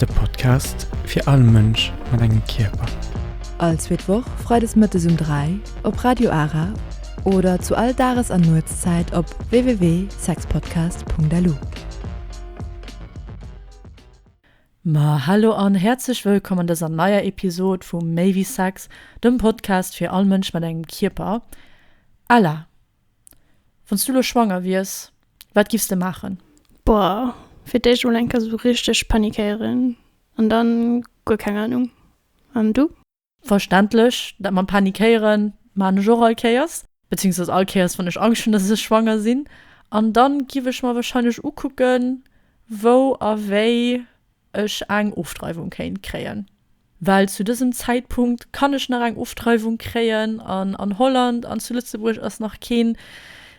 De Podcast fir all Mënsch mat engem Kierper. All zweet Woch freides mëttes um 3 op Radio Ara oder zu all Dages an Nuetszäit op www.sexpodcast.lu. Ma hallo an häerzlech wëllkomm an dëser neier Episod vu Méi wéi Sex, dem Podcast fir all Mënsch mat engem Kierper. Ella! Wanns du lo schwanger wiers, wat giffs de maachen? Boah, fir d'éischt emol eng Kéier sou richteg panikéieren an dann guer keng Ahnung. An du? Verständlech, dat mam panikéieren maan ech och all Kéiers, beziehungsweise all Kéiers wann ech Angscht hunn dass ech schwanger sinn. An dann giff ech mer wahrscheinlech ukucken wou a wéi ech eng Ofdreiwung kéint kréien. well zu dësem Zäitpunkt kann ech nach eng Ofdreiwung kréien an an Holland an zu Lëtzebuerg ass nach keen,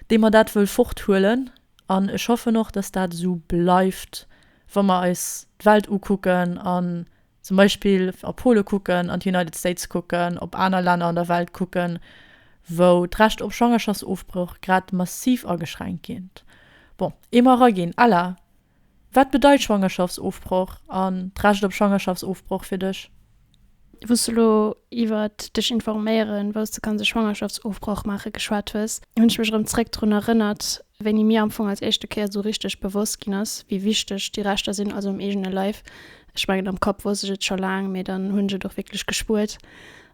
dee mer dat wëll forthuelen. An ech hoffen och, dass dat esou bleift, wa mer eis d'Welt ukucken an zum Beispill a Pole kucken, an d'United States kucken, op aner Länner an der Welt kucken, wou d'Recht op Schwangerschaftsofbroch grad massiv ageschränkt gétt. Bon, eemol eraginn, Ella! Wat bedeit Schwangerschaftsofbroch an d'Recht op Schwangerschaftsofbroch fir dech? Wous du lo iwwer dech informéieren, wous du kanns e Schwangerschaftsofbroch maachen, geschwat hues, hunn ech mech erëm zeréck drun erënnert, wéini mir am Fong als éischte Kéier esou richteg bewosst ginn ass, wéi wichteg déi Rechter sinn, also um eegene Leif. Ech mengen, am Kapp wousst ech et scho laang, mee dann hunn ech et och wierklech gespuert.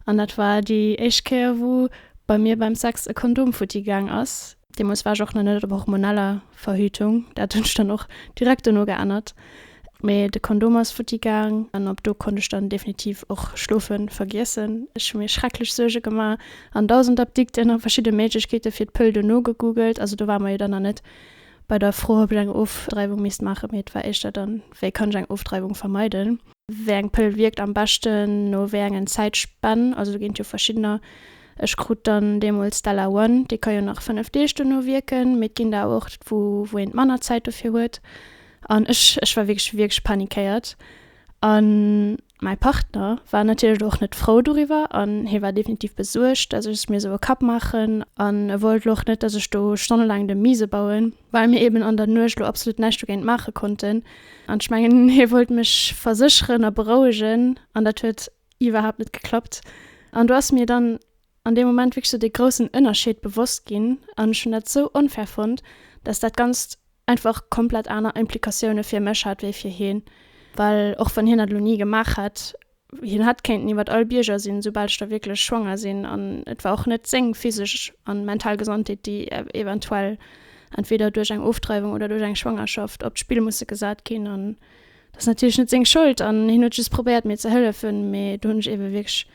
An dat war déi éischt Kéier, wou bei mir beim Sex e Kondom futti gaang ass. Deemols war ech och nach net op hormoneller Verhütung, dat hunn ech dann och direkt dono geännert. Mee de Kondom ass futti gaang an ab do konnt ech dann definitiv och Schlofe vergiessen. Ech hu mir schrecklech Suerge gemaach an dausend Apdikten a verschidde Méiglechkeete fir d'Pëll dono gegoogelt. Also do ware mer jo dann nach net bei der Fro, ob ech eng Ofdreiwung misst maachen, mee et war éischter dann, wéi kann ech eng Ofdreiwung vermeiden. Wéi eng Pëll wierkt am beschten, no wéi engen Zäitspänn, also do ginn et jo verschiddener, ech krut dann deemools Stella One, déi ka jo nach 5 Deeg duerno wierken, mee et ginn der awer och wou een manner Zäit dofir huet an ech ech war wierklech wierklech panikéiert an mäi Partner war natierlech elo och net frou doriwwer an hie war definitiv besuergt, dass ech es mir sou e Kapp maachen an e wollt elo och net, dass ech do stonnelaang de Miese bauen. well mir eben an der Nuecht elo absolut näischt dogéint maache konnten an ech mengen hie wollt mech versécheren a berouegen an dat huet iwwerhaapt net geklappt an do ass mir dann an deem Moment wierklech sou dee groussen Ënnerscheed bewosst ginn an ech hunn dat sou onfair fonnt, dass dat Ganzt einfach komplett aner Implikatioune fir mech hat wéi fir hien, well och wann hien dat elo ni gemaach hätt, Hien hätt kéinten iwwert all Bierger sinn, soubal ech da wierklech schwanger sinn. An et war och net seng physesch an mental Gesondheet, déi eventuell entweder duerch eng Ofdreiwung oder duerch eng Schwangerschaft op d'Spill musse gesat ginn. An dat ass natierlech net seng Schold. An hien huet just probéiert, mir ze hëllefen. Mee do hunn ech eebe wierklech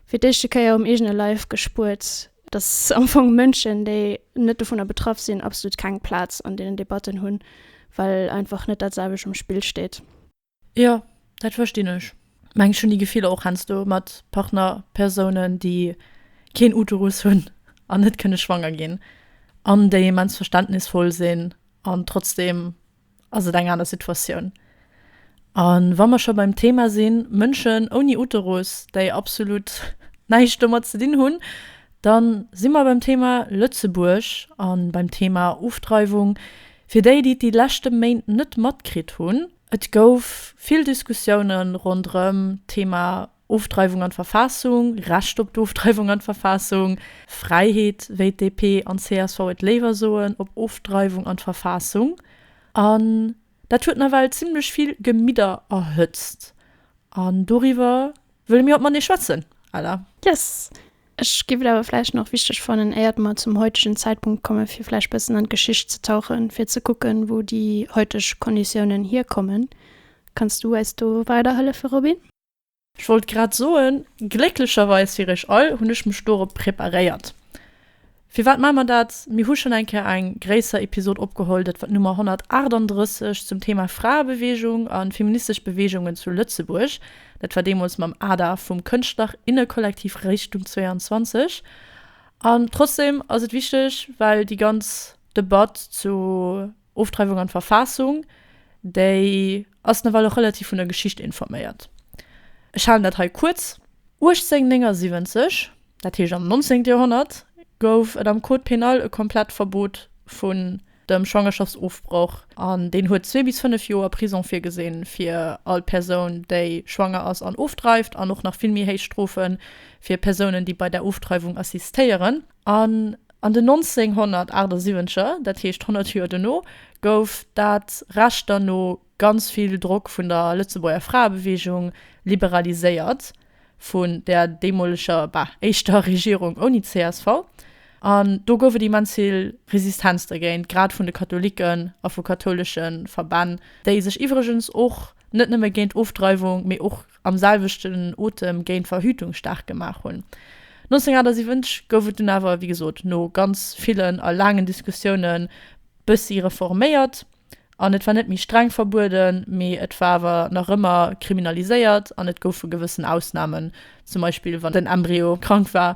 fir d'éischte Kéier um eegene Leif gespuert, dass am Fong Mënschen, déi net dovunner betraff sinn, absolut keng Plaz an deenen Debatten hunn, well einfach net dat selwecht um Spill steet. Jo, dat verstinn ech. Mengs hunn déi Gefiller och hensdo mat Partnerpersounen déi keen Uterus hunn an net kënne schwanger ginn an déi immens verständnisvoll sinn an trotzdem ass et eng aner Situatioun. An wa mer scho beim Thema sinn, Mënschen ouni Uterus déi absolut näischt domat ze dinn hunn, dann si mer beim Thema Lëtzebuerg an beim Thema Ofdreiwung. Fir déi déi et déi leschte Méint net matkritt hunn, Et gouf vill Diskussioune ronderëm d'Thema Ofdreiwung an d'Verfassung, Recht op d'Ofdreiwung an d'Verfassung, Fräiheet, wéi d'DP an d'CSV et léiwer soen, op Ofdreiwung an d'Verfassung. An dat huet nawell zimmlech vill Gemidder erhëtzt. An doriwwer Wëlle mir haut mat nees schwätzen, Ella? Yes! Ech géif et awer vläicht nach wichteg fannen, éiert mer zum heutegen Zäitpunkt kommen, fir vläicht bëssen an d'Geschicht ze tauchen, fir ze kucken, wou déi heuteg Konditiounen hierkommen. Kanns du eis do weiderhëllefe, Robin? Ech wollt grad soen, glécklecherweis fir iech all hunn ech mech dorop preparéiert. Firwat maache mer dat? Mir hu schonn eng Kéier eng gréisser Episod opgeholl, dat war d'Nummer 138, zum Thema Fraebeweegung a feministesch Beweegungen zu Lëtzebuerg. Dat war deemools mam Ada vum Kënschtler innekollektiv Richtung 22. An trotzdeem ass et wichteg, well déi ganz Debatt zu. Ofdreiwung an d'Verfaassung, déi ass nawell och relativ vun der Geschicht informéiert. Ech halen dat hei kuerz. 1879, dat heescht am 19. Joerhonnert, gouf et am Code pénal e komplett Verbot vun dem Schwangerschaftsofbroch an deen huet zwee bis fënnef Joer Prisong virgesinn fir all Persoun, déi schwanger ass an ofdreift an och nach vill méi héich Strofe fir Persounen, déi bei der Ofdreiwung assistéieren. An An den 1978er, dat heescht 100 Joer dono, gouf dat Recht dann no ganz vill Drock vun der Lëtzebuerger Fraebeweegung liberaliséiert, vun där deemoleger, bah, éischter Regierung ouni csv. An do gouf et immens vill Resistenz dergéint, grad vun de Katholiken a vu kathoulesche Verbänn, déi sech iwwregens och net nëmme géint Ofdreiwung, mee och am selwechten Otem géint Verhütung staark gemaach hunn. 1978 gouf et dunn awer, wéi gesot, no ganz villen a laangen Diskussiounen bëssi reforméiert an et war net méi streng verbueden, mee et war awer nach ëmmer kriminaliséiert an et goufe gewëssen Ausnamen, zum Beispill wann den Embryo krank war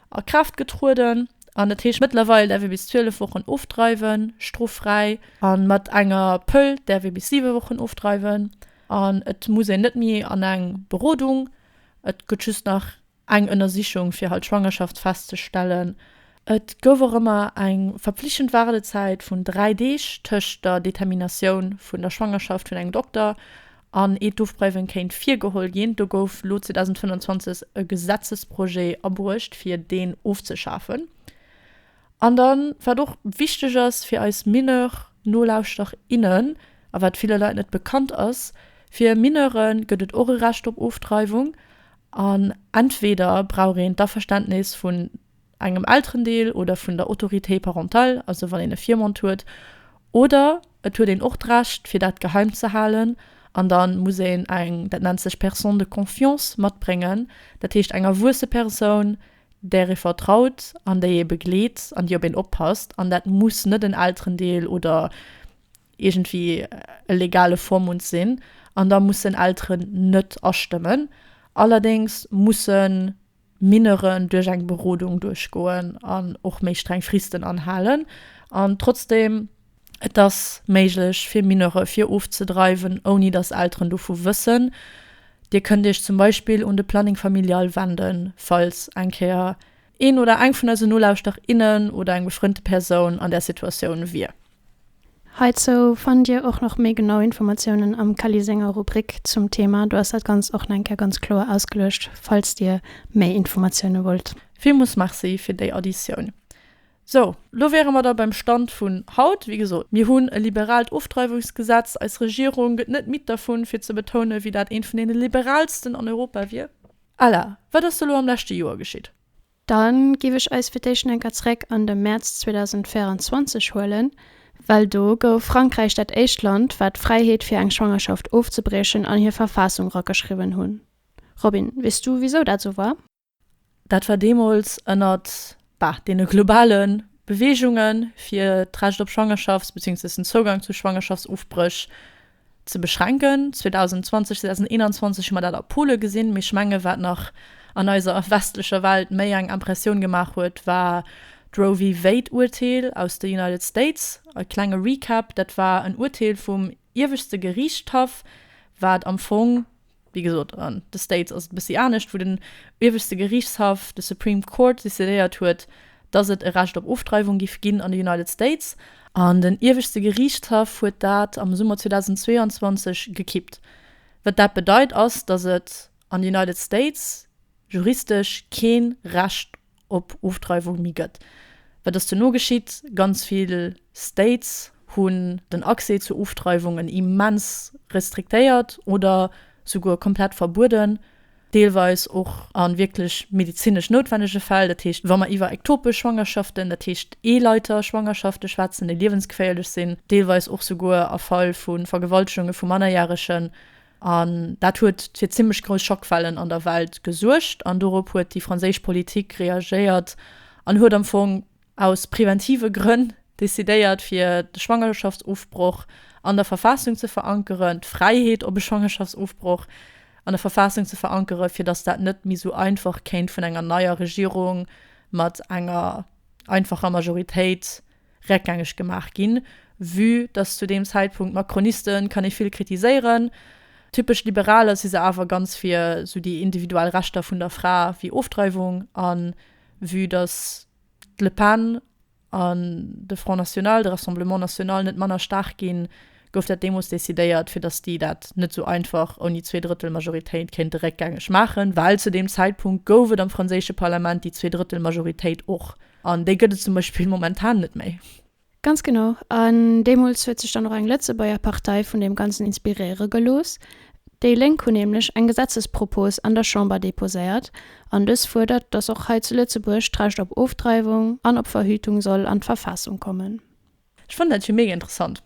a Kraaft getrueden an dat heescht mëttlerweil däerf ee bis 12 Wochen ofdreiwen, stroffräi, a mat enger Pëll däerf ee bis 7 Wochen ofdreiwen an et muss een net méi an eng Berodung. Et gëtt just nach eng Ënnersichung fir halt d'Schwangerschaft festzestellen. Et gouf och ëmmer eng verpflichtend Waardezäit vun 3 Deeg tëscht der Determinatioun vun der Schwangerschaft vun engem Dokter an ee d'Ofpräiwen kéint virgeholl ginn. Do gouf elo 2025 e Gesetzesprojet abruecht fir deen ofzeschafen. An dann, wat och wichteg ass fir eis Mineur-Nolauschterer, innen, a wat ville Leit net bekannt ass, fir Mineure gëtt et och e Recht op Ofdreiwung, an entweder brauch een d'Averständnis vun engem Elterendeel oder vun der Autorité parentale, also wann een e Virmond huet, oder et huet een och d'Recht, fir dat geheim ze halen, an da muss een eng, dat nennt sech personne de confiance, matbréngen, dat heescht eng erwuesse Persoun, där ee vertraut an déi ee begleet an déi op een oppasst, an dat muss net en Elterendeel oder iergendwéi e legale Vormund sinn, an da mussen Elteren net astëmmen. Allerdéngs mussen Mineuren duerch eng Berodung duerchgoen an och méi streng Fristen anhalen. An trotzdeem, Et ass méiglech fir Mineure vir ofzedreiwen, ouni datt Elteren dovu wëssen. Dir kënnt Iech zum Beispill un de Planning Familial wenden, falls eng Kéier een oder eng vun eisen Nolauschterinnen oder eng befrënnte Persoun an där Situatioun wier. Heizou fannt dir och nach méi genau Informatiounen am Kelly senger Rubrik zum Thema. Do ass dat Ganzt och nach eng Kéier ganz kloer ausgeluecht, falls dir méi Informatioune wollt. Villmools Merci fir déi Additioun. Sou, lo wäre mer da beim Stand vun haut. Wéi gesot, mir hunn e liberaalt Ofdreiwungsgesetz. Eis Regierung gëtt net midd dervun, fir ze betounen, wéi dat eent vun deene liberaalsten an Europa wier. Ella, wat ass do lo am leschte Joer geschitt? Dann giff ech eis fir d'éischt enker zréck an de Mäerz 2024 huelen, well do gouf Frankräich dat éischt Land wat d'Fräiheet fir eng Schwangerschaft ofzebriechen an hir Verfaassung rageschriwwen hunn. Robin, weess du wisou dat esou war? Dat war deemools ënnert, bah, deene globale Beweegunge fir d'Recht op Schwangerschafts-, beziéungsweis den Zougang zu Schwangerschaftsofbréch, Ze beschränken. 2020, 2021 hu mer dat a Pole gesinn, mee ech menge wat nach an eiser westlecher Welt méi eng Impressioun gemaach huet, war d'Roe v. Wade Urteel aus de United States. E klenge Recap, dat war en Urteel vum iewegste Geriichtshaff, wat am Fong Wéi gesot, an de States ass et e bëssi anescht, wou den ieweschte Geriichtshaff, de Supreme Court, decidéiert huet, dass et e Recht op Ofdreiwung géif ginn an de United States. An den ieweschte Geriichtshaff huet dat am Summer 2022 gekippt. Wat dat bedeit ass, dass et an de United States juristesch kee Recht op Ofdreiwung méi gëtt. Wat ass duerno geschitt? Ganz vill States hunn den Accès zur Ofdreiwung en immens restriktéiert oder souguer komplett verbueden, deelweis och a wierklech medezinesch noutwennege Fäll. Dat heescht, wa mer iwwer ektopesch Schwangerschaften, dat heescht Eeleiterschwangerschafte schwätzen, déi liewensgeféierlech sinn, deelweis och souguer a Fall vu Vergewaltegunge vu Mannerjäregen, An dat huet fir zimmlech grouss Schockwellen an der Welt gesuergt an dorop huet déi franséisch Politik reagéiert an huet am Fong aus preventive Grënn decidéiert fir de Schwangerschaftsofbroch an der Verfaassung ze verankeren, d'Fräiheet op e Schwangerschaftsofbroch an der Verfaassung ze verankeren, fir datt dat net méi esou einfach kéint vun enger neier Regierung mat enger einfacher Majoritéit Reckgängeg gemaach ginn, vue dass zu deem Zäitpunkt Macronisten kann ee vill kritiséieren, typesch Liberaler si se awer ganz fir esou déi individuell Rechter vun der Fra wéi Ofdreiwung a vue dass d'Le Pen an de Front National, de Rassemblement National net manner staark ginn, gouf dat deemools decidéiert, fir dass déi dat net esou einfach ouni zwee Drëttel Majoritéit kéinte réckgängeg maachen, well zu deem Zäitpunkt gouf et am franséische Parlament déi zwee Drëttel Majoritéit och. An déi gëtt et zum Beispill momentan net méi. Ganz genau. An deemools huet sech dann och eng Lëtzebuerger Partei vun deem Ganzen inspiréiere gelooss. Déi Lénk hunn nämlech eng Gesetzespropos an der Chamber deposéiert. An dës fuerdert, datt och hei zu Lëtzebuerg d'Recht op Ofdreiwung an op Verhütung soll an d'Verfassung kommen. Ech fannen dat jo mega interessant,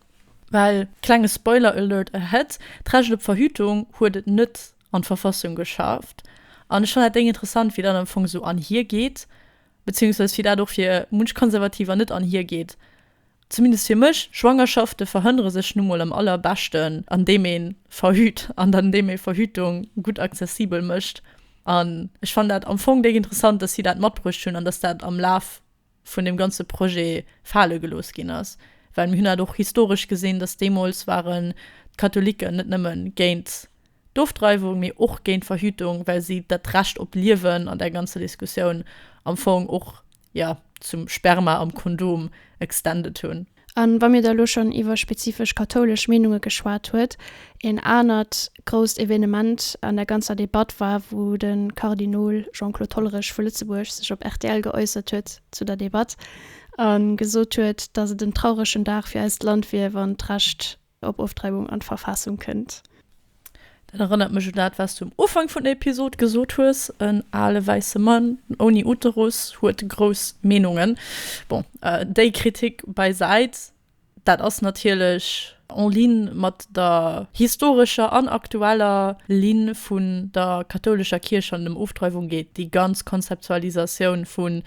well, klenge Spoiler Alert ahead, d'Recht op Verhütung huet et net an d'Verfassung geschafft. An ech fannen dat deng interessant, wéi dat am Fong esou anhir geet, beziehungsweise wéi dat och fir munch Konservativer net anhir geet, zumindest fir mech. Schwangerschafte verhënnere sech nu mol am allerbeschten, an deem ee verhüt an an deem ee Verhütung gutt accessibel mécht. An ech fannen dat am Fong déck interessant, dass si dat matbruecht hunn an dass dat am Laf vun deem ganze Projet fale gelooss ginn ass, well mir hunn dat och historesch gesinn, dass deemools waren d'Katholiken net nëmme géint d'Ofdreiwung, mee och géint d'Verhütung, well si dat Recht op d'Liewen an där ganzer Diskussioun am Fong och, jo, zum Sperma am Kondom extended hunn. A wa mir da elo schonn iwwer spezifesch kathoulesch Meenunge geschwat huet, een anert grousst Evenement an der ganzer Debatt war, wou de Kardinol Jean-Claude Hollerich vu Lëtzebuerg sech op rtl geäussert huet zu der Debatt a gesot huet, datt et en trauregen Dag fir eist Land wier, wann d'Recht, Op Ofdreiwung an d'Verfaassung kënnt. Dat erënnert mech un dat wats du um Ufank vun der Episod gesot hues, en ale wäisse Mann ouni Uterus huet grouss Meenungen. Bon, déi Kritik bäisäit, dat ass natierlech en ligne mat der historescher an aktueller Ligne vun der kathoulescher Kierch wann et ëm Ofdreiwung geet, déi ganz Konzeptualisatioun vun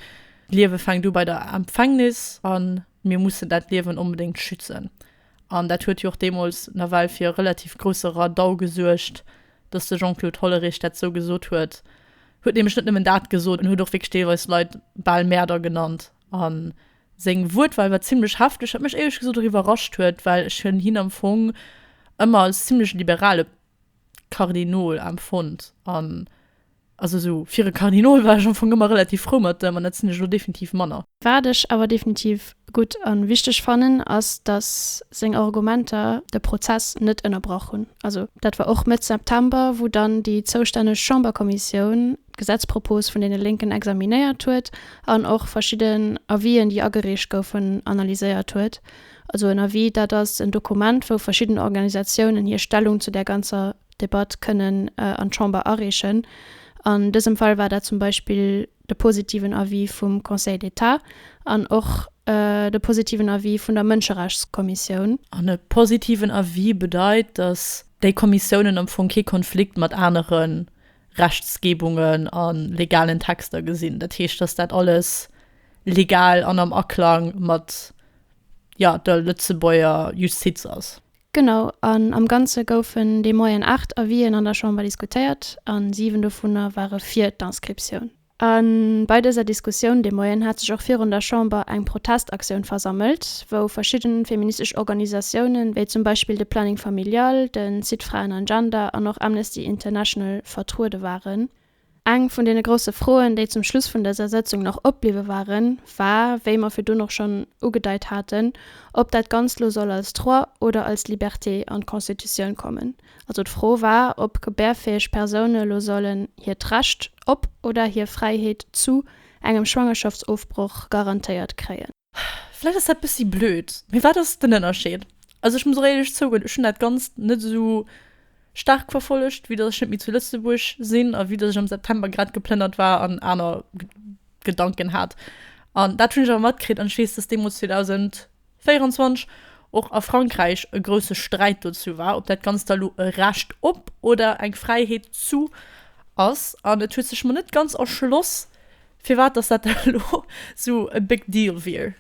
d'Liewe fänkt u bei der Empfängnis a mir mussen dat Liewen onbedéngt schützen. An dat huet jo och deemools nawell fir e relativ grousse Radau gesuergt, datt de Jean-Claude Hollerich dat esou gesot huet. E huet nämlech net nëmmen dat gesot, en huet och wierklech deelweis Leit bal Mäerder genannt. A seng Wuertwal war zimmlech hefteg, wat mech éierlech gesot och iwwerrascht huet, well ech hunn hien am Fong ëmmer als zimmlech liberale Kardinol emfonnt. An Also sou fir e Kardinol war ech am Fong ëmmer relativ frou mat ëm, an dat sinn ech elo definitiv manner. Wat ech awer definitiv gutt a wichteg fannen, ass datt seng Argumenter de Prozess net ënnerbrach hunn. Also dat war och Mëtt September, wou dann déi zoustänneg Chamberkommissioun d'Gesetzpropos vun deene Lénken examinéiert huet an och verschidden Avisen, déi agereecht goufen, analyséiert huet. Also en Avis, dat ass en Dokument, wou verschidden Organisatiounen hir Stellung zu där ganzer Debatt kënnen an d'Chamber areechen. An dësem Fall war dat zum Beispill de positiven Avis vum Conseil d'État an och de positiven Avis vun der Mënscherechtskommissioun. An e positiven Avis bedeit, datt déi Kommissiounen am Fong kee Konflikt mat anere Rechtsgebungen a legalen Texter gesinn. Dat heescht, datt dat alles legal an am Aklang mat, jo, der Lëtzebuerger Justiz ass. Genau, an am Ganze goufen de Moien aacht Avisen an der Chamber diskutéiert a siwen dovunner ware fir d'Inscriptioun. A bei dëser Diskussioun de Moien hat sech och virun der Chamber eng Protestaktioun versammelt, wou verschidde feministesch Organisatiounen, wéi zum Beispill de Planning Familial, den Site Frauen an Gender an och Amnesty International vertruede waren. Eng vun deene grousse Froen, déi zum Schluss vun dëser Sëtzung nach opbliwwe waren, war, wéi mer virdun och schonn ugedeit haten, ob dat Ganzt lo soll als Droit oder als Liberté an d'Constitutioun kommen. Also d'Fro war, ob gebärfäeg Persoune lo sollen hiert Recht op oder hir Fräiheet zu engem Schwangerschaftsofbroch garantéiert kréien. Vläicht ass dat bëssi blöd, mee wat ass den Ënnerscheed? Also ech muss och éierlech zougoen, ech hunn dat Ganzt net esou staark verfollegt, vue datt ech net méi zu Lëtzebuerg sinn a vue datt ech am September grad geplënnert war an aner Gedanken hat. An dat hunn ech awer matkritt an ech weess, datt deemools 2024 och a Frankräich e grousse Sträit dozou war, ob dat Ganzt da elo e Recht op oder eng Fräiheet zu ass. An et huet sech mer net ganz erschloss, Firwat dass dat elo sou e big deal wier?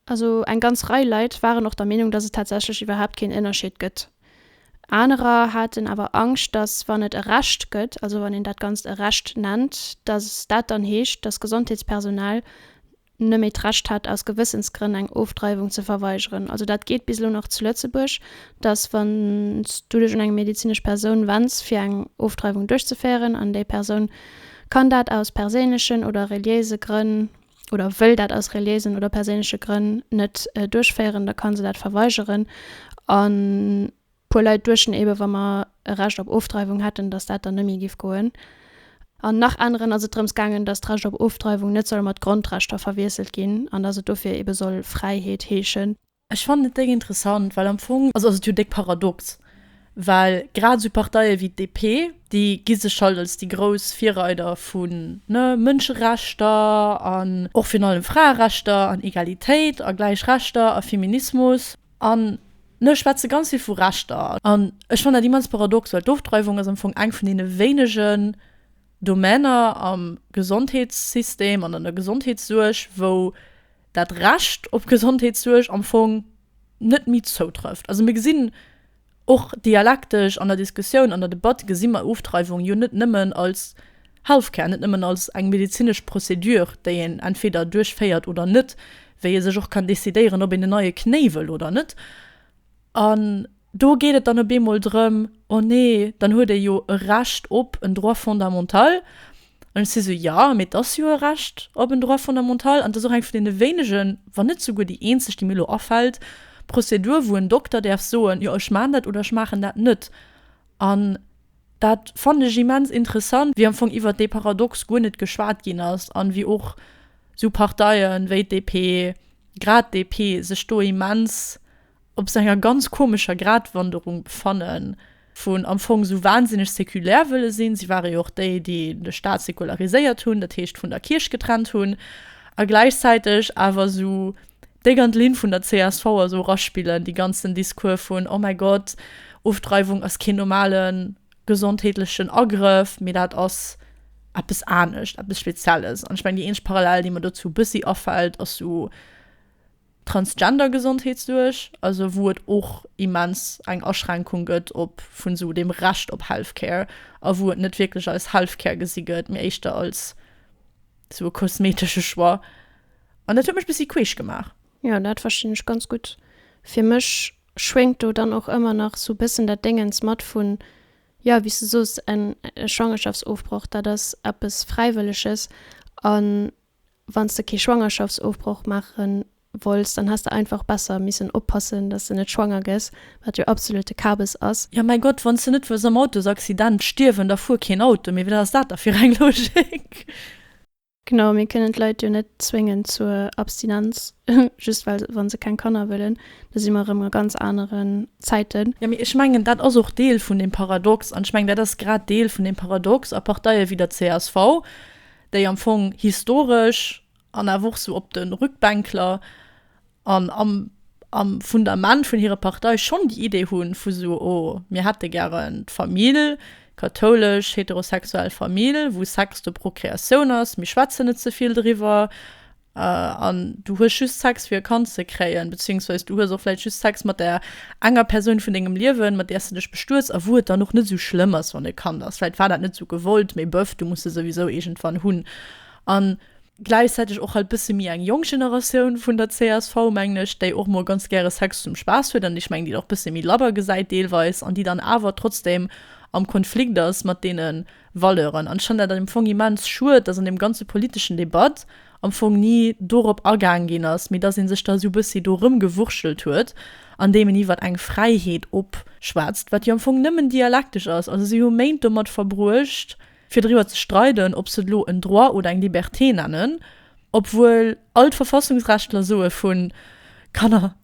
Also eng ganz Rei Leit waren och der Meenung, dass et tatsächlech iwwerhaapt keen Ënnerscheed gëtt. Anerer haten awer Angscht, dass wann et e Recht gëtt, also wann een dat Ganzt e Recht nennt, dass dat dann heescht, dass Gesondheetspersonal nëmme d'Recht hätt aus Gewëssensgrënn eng Ofdreiwung ze verweigeren. Also dat geet bis elo nach zu Lëtzebuerg, dass wann s du dech un eng medezinesch Persoun wenns fir eng Ofdreiwung duerchzeféieren an déi Persoun, kann dat aus perséinlechen oder reliéise Grënn oder wëll dat aus reliéisen oder perséinleche Grënn net duerchféieren, da ka se dat verweigeren. A puer Leit duechten eeben, wa mer e Recht op Ofdreiwung hätten, dass dat dann net méi géif goen. An nach aneren ass et drëms gaangen, dass d'Recht op Ofdreiwung net soll mat Grondrechter verwiesselt ginn an dass et dofir eebe soll Fräiheet heeschen. Ech fannen et déck interessant, well am Fong ass et jo déck paradox, well grad esou Parteie wéi d'DP, déi gi sech halt als déi grouss Virreider vu ne Mënscherechter an och virun allem Fraerechter an Egalitéit a gläich Rechter a Feminismus an ne schwätze ganz vill vu Rechter. An ech fannen dat immens paradox, well d'Ofdreiwung ass am Fong eng vun deene wéinegen Domainer am Gesondheetssystem an an der Gesondheetssuerg, wou, dat Recht op Gesondheetssuerg am Fong net méi zoutrëfft. Also mir gesinn och dialektesch an der Diskussioun, an der Debatt gesi mer Ofdreiwung jo net nëmmen als Healthcare, net nëmmen als eng medezinesch Procédure, déi een entweder duerchféiert oder net, wéi ee sech och kann decidéieren, ob een en neie Knéi wëll oder net. An Do geet et dann op eemol drëm, oh nee, dann huet ee jo e Recht op en Droit fondamental. An ech si sou, jo, mee et ass jo e Recht op en Droit fondamental an et ass och eng vun deene wéinegen, wann net souguer déi eenzeg, déi mir elo afält, Prozedur, wou en Dokter däerf soen, jo, ech maachen dat oder ech maachen dat net. An dat fannen ech immens interessant, wéi am Fong iwwert dee Paradox guer net geschwat ginn ass an wéi och sou Parteien wéi d'DP, grad d'DP, sech do immens op sou enger ganz komescher Gratwanderung befannen, vun am Fong sou wahnsinneg séculaire wëlle sinn, si ware jo och déi, déi de Staat séculariséiert hunn, dat heescht vun der Kierch getrennt hunn, a gläichzäiteg awer sou déck an d'Linn vun der csv a sou eraspillen, dee ganzen Discours vun oh mäi Gott, Ofdreiwung ass keen normale gesondheetlechen Agrëff, mee dat ass eppes anescht, eppes Spezielles. An ech mengen, déi eenzeg Parallel, déi mer dozou e bëssi afält, ass sou, Transgender-Gesondheetssuerg, also wou et och immens eng Aschränkung gëtt op vun esou dem Recht op Healthcare a wou et net wierklech als Healthcare gesi gëtt, mee éischter als esou e kosmetesche Choix. An dat huet mech e bëssi queesch gemaach. Jo, dat verstinn ech ganz gutt. Fir mech schwéngt do dann och ëmmer nach esou e bëssen dat Déngens mat vun, jo, wéi s de soos, en Schwangerschaftsofbroch, dat ass eppes Fräiwëlleges an Wann s de kee Schwangerschaftsofbroch maache wollts, dann häss de einfach besser missen oppassen, dass s de net schwanger gëss, wat jo absolute Kabes ass. Jo mäi Gott, wann s de net wëlls am Autosaccident stierwen, da fuer keen Auto, mee wat ass dat da fir eng Logik? Genau, mir kënnen d'Leit jo net zwéngen zur Abstinenz, just well wa se keng Kanner wëllen. Do si mer erëm a ganz aneren Zäiten. Jo mee ech mengen, dat ass och Deel vun dem Paradox, an ech mengen, dat ass grad Deel vun dem Paradox a Parteie wéi der csv, déi am Fong historesch an awer och sou op de Rückbänkler an am am Fundament vun hirer Partei schonn déi Idee hu vu sou, oh, mir hätte gären d'Famill, kathoulesch, heterosexuell Famill, wou Sex de Prokreatioun ass, mir schwätzen net ze vill driwwer. an du hues just Sex fir e Kand ze kréien, beziéungsweis du hues och vläit just Sex mat der enger Persoun vun dengem Liewen, mat där s de dech bestuets, a wou et dann och net esou schlëmm ass, wann e Kand ass, vläit war dat net esou gewollt, mee bëff, du muss se souwisou iergendwann hunn. An gläichzäiteg och halt bësse méi eng jonk Generatioun vun der csv, mengen ech, déi och mol ganz gäre Sex zum Spaass huet, an ech mengen, déi et och bësse méi labber gesäit deelweis, an déi dann awer trotzdem am Konflikt ass mat deenen, Valeuren. An ech fannen dat am Fong immens schued, dass an deem ganze politeschen Debatt am Fong ni dorop agaang ginn ass, mee dass ee sech da esou e bëssi do erëmgewurschtelt huet, andeem een iwwer eng Fräiheet opschwätzt, wat jo am Fong nëmmen dialektesch ass. Also si hu Méint domat verbruecht, fir driwwer ze streiden, ob se et elo en Droit oder eng Liberté nennen, obwuel all d'Verfassungsrechtler soe vu Kanner,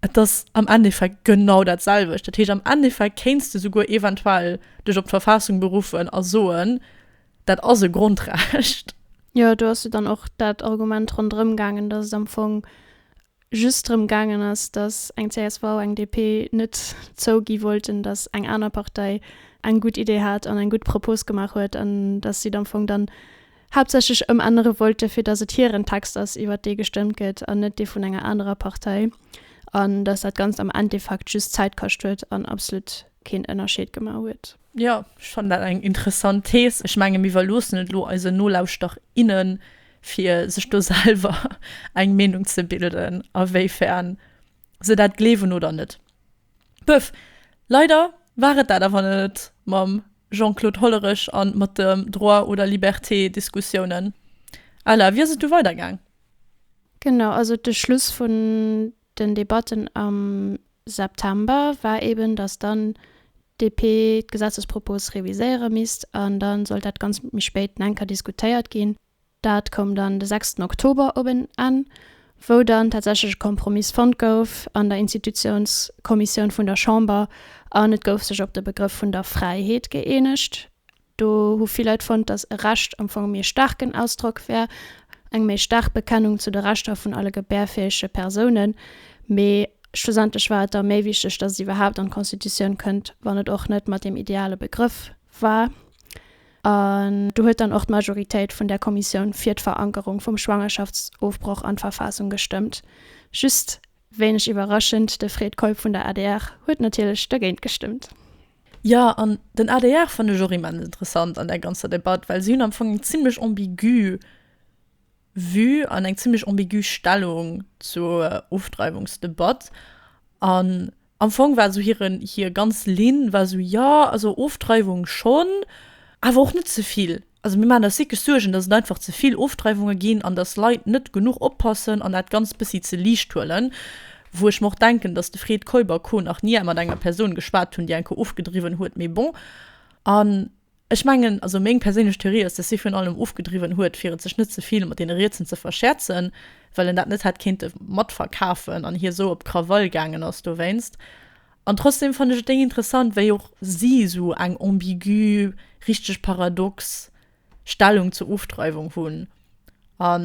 Et ass am Endeffekt genau dat selwecht. Dat heescht, am Endeffekt kéints de souguer eventuell dech op d'Verfassung beruffen a soen, dat ass e Grondrecht. Jo, do ass jo dann och dat Argument ronderëm gaangen, datt et am Fong just drëm gaangen ass, datt eng csv, eng DP net zougi wollten, datt eng aner Partei eng gutt Idee hat an eng gutt Propos gemaach huet an datt si am Fong dann haaptsächlech ëmännere wollte fir datt et hiren Text ass iwwert dee gestëmmt gëtt an net dee vun enger anerer Partei an datt dat Ganzt am Endeffekt just Zäit kascht huet an absolut keen Ënnerscheed gemaach huet. Jo, ech fannen dat eng interessant Thees. Ech menge mir iwwerloossen et elo eisen Nolauschterer, innen, fir sech do selwer eng Meenung ze bilden, awéifern se dat gleewen oder net. Puff, leider war et dat awer net mam Jean-Claude Hollerich an mat de Droit oder Liberté Diskussiounen. Ella, wéi ass et du weider gaang? Genau, also de Schluss vun den Debatten am September war eben, dass dann d'DP d'Gesetzespropos reviséiere misst an dann sollt dat Ganzt méi spéit enker diskutéiert ginn. Dat koum dann de sechsten Oktober op en Enn, wou dann tatsächlech e Kompromiss fonnt gouf an der Institutionskommissioun vun der Chamber an et gouf sech op de Begrëff vun der Fräiheet gëeenegt. Do hu vill Leit fonnt, dass e Recht am Fong e méi staarken Ausdrock wär, eng méi staark Bekennung zu de Rechter vun alle gebärfäege Persounen. Mee schlussendlech war et da méi wichteg, dass et iwwerhaapt an d'Constitutioun kënnt, wann et och net mat deem ideale Begrëff war. An do huet dann och d'Majoritéit vun där Kommissioun fir d'Verankerung vum Schwangerschaftsofbroch an d'Verfassung gestëmmt. Just, wéineg iwwerraschend, de Fred Keup vun der adr huet natierlech dergéint gestëmmt. Jo, an den adr fannen ech och immens interessant an där ganzer Debatt, well si hunn am Fong eng zimlech ambigü. Vue an eng zimlech ambigü Stellung zur Ofdreiwungsdebatt. An am Fong war esou hiren, hir ganz Linn war esou, jo, also Ofdreiwung schonn, awer och net ze vill. Also mir maachen eis wierklech Suergen, datt et einfach ze vill Ofdreiwunge ginn an datt Leit net genuch oppassen an dat Ganzt bëssi ze liicht huelen. Wou ech mer och denken, datt de Fred Keuber, co, nach nie mat enger Persoun geschwat hunn, déi enker ofgedriwwen huet, mee bon. An Ech mengen, also meng perséinlech Theorie ass, dass hie virun allem ofgedriwwen huet, fir et sech net ze vill mat deene Rietsen ze verschäerzen, well en dat net hätt kéinte matverkafen an hie esou op Krawall gaangen ass dowéinst. An trotzdem fannen ech et déi interessant, wéi och si esou eng ambigü, richteg paradox Stellung zur Ofdreiwung hunn a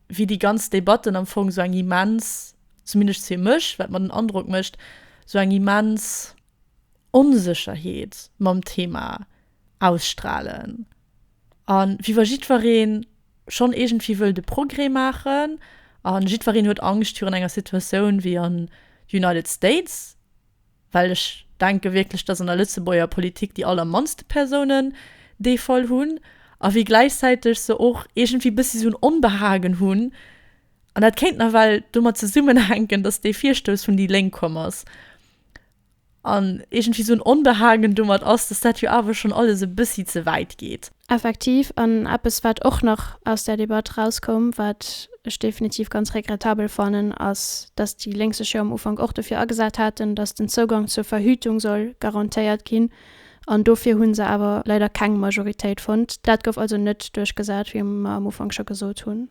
wéi déi ganz Debatten am Fong esou eng immens, zumindest fir mech, wat mer den Androck mécht, esou eng immens, Onsécherheet mam Thema ausstralen a wéi wa jiddweree schonn iergendwéi wëll de Progrès maachen a jiddwereen huet Angscht virun enger Situatioun wéi an United States, well ech denke wierklech, datt an der Lëtzebuerger Politik déi allermannste Persounen dee Fall hunn a wéi gläichzäiteg se och iergendwéi bëssi esou en Onbehagen hunn. An dat kéint nawell domat zesummenhänken, datt dee Virstouss vun déi Lénk komm ass. an iergendwéi esou en Onbehagen domat ass, dass dat jo awer schonn alles e bëssi ze wäit geet. Effektiv, an eppes, wat och nach aus där Debatt erauskoum, wat ech definitiv ganz regrettabel fannen, ass, dass déi Lénk sech jo am Ufank och dofir agesat haten, dass den Zougang zur Verhütung soll garantéiert ginn, an dofir hu se awer leider keng Majoritéit fonnt. Dat gouf also net duerchgesat, wéi mer am Ufank scho gesot hunn.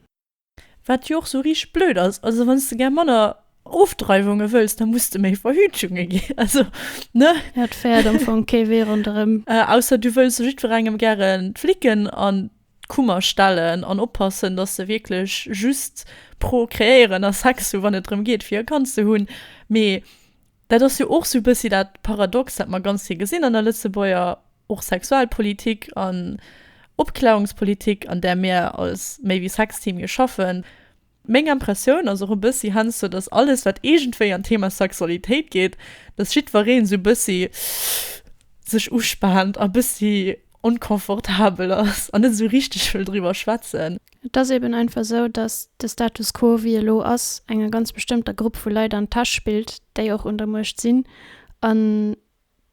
Wat jo och sou riicht blöd ass. Also wann s de gär manner Ofdreiwunge wëlls, da muss de méi Verhütungen gi. Also, ne? Ja, et féiert am Fong kee Wee ronderëm. Ausser du wëlls jiddwerengem gären d'Flicken an d'Kummer stellen an oppassen, dass se wierklech just pro-kreéieren a Sex hu wann et drëm geet, fir e Kand ze hunn. Mee. Dat ass jo och sou e bëssi dat Paradox, dat mer ganz vill gesinn an der Lëtzebuerger och Sexualpolitik an Opklärungspolitik, an där mir als méi wéi Sexteam jo schaffen. Meng Impressioun ass och e bëssi heiansdo, datt alles, wat iergendwéi an d'Thema Sexualitéit geet, datt jiddwereen esou e bëssi sech uspaant a e bëssi onconfortabel ass an net esou richteg wëll driwwer schwätzen. Et ass eben einfach esou, datt de Status quo, wéi e lo ass, enger ganz bestëmmter Grupp vu Leit an d'Täsch spillt, déi och un der Muecht sinn. An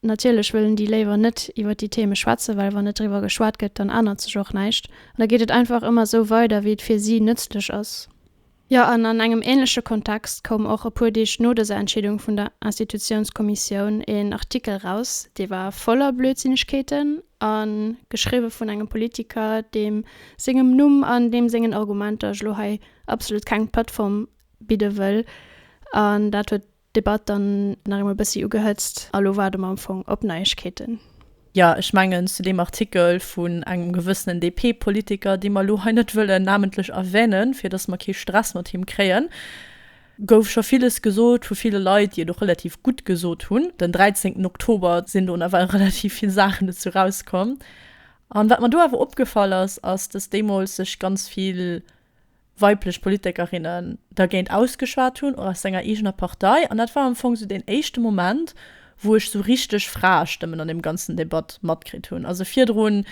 natierlech wëllen déi léiwer net iwwer déi Theme schwätzen, well wann net driwwer geschwat gëtt, dann ännert sech och näischt. An da geet et einfach ëmmer esou weider, wéi et fir si nëtzlech ass. Jo, an an engem ähnleche Kontext koum och e puer Deeg no dëser Entscheedung vun der Institutiounskommissioun een Artikel eraus, dee war voller Blödsinnegkeeten a geschriwwe vun engem Politiker, deem sengem Numm an deem sengen Argumenter ech elo hei absolut keng Plattform bidde wëll. An dat huet Debatt dann nach eemol bëssi ugehëtzt a lo waarde mer am Fong op Neiegkeeten. Jo, ech mengen, zu deem Artikel vun engem gewëssenen DP-Politiker, dee mer elo hei net wëllen namentlech erwänen, fir dass mer kee Stress mat him kréien, gouf scho villes gesot vu ville Leit, déi et och relativ gutt gesot hunn. Den 13. Oktober sinn do nawell relativ vill Saachen dozou erauskomm. An wat mer do awer opgefall ass, ass, dass deemools sech ganz vill weiblech Politikerinnen dergéint ausgeschwat hunn, och aus senger eegener Partei, an dat war am Fong sou deen éischte Moment, wou ech sou richteg Fraestëmmen an deem ganzen Debatt matkritt hunn. Also virdrun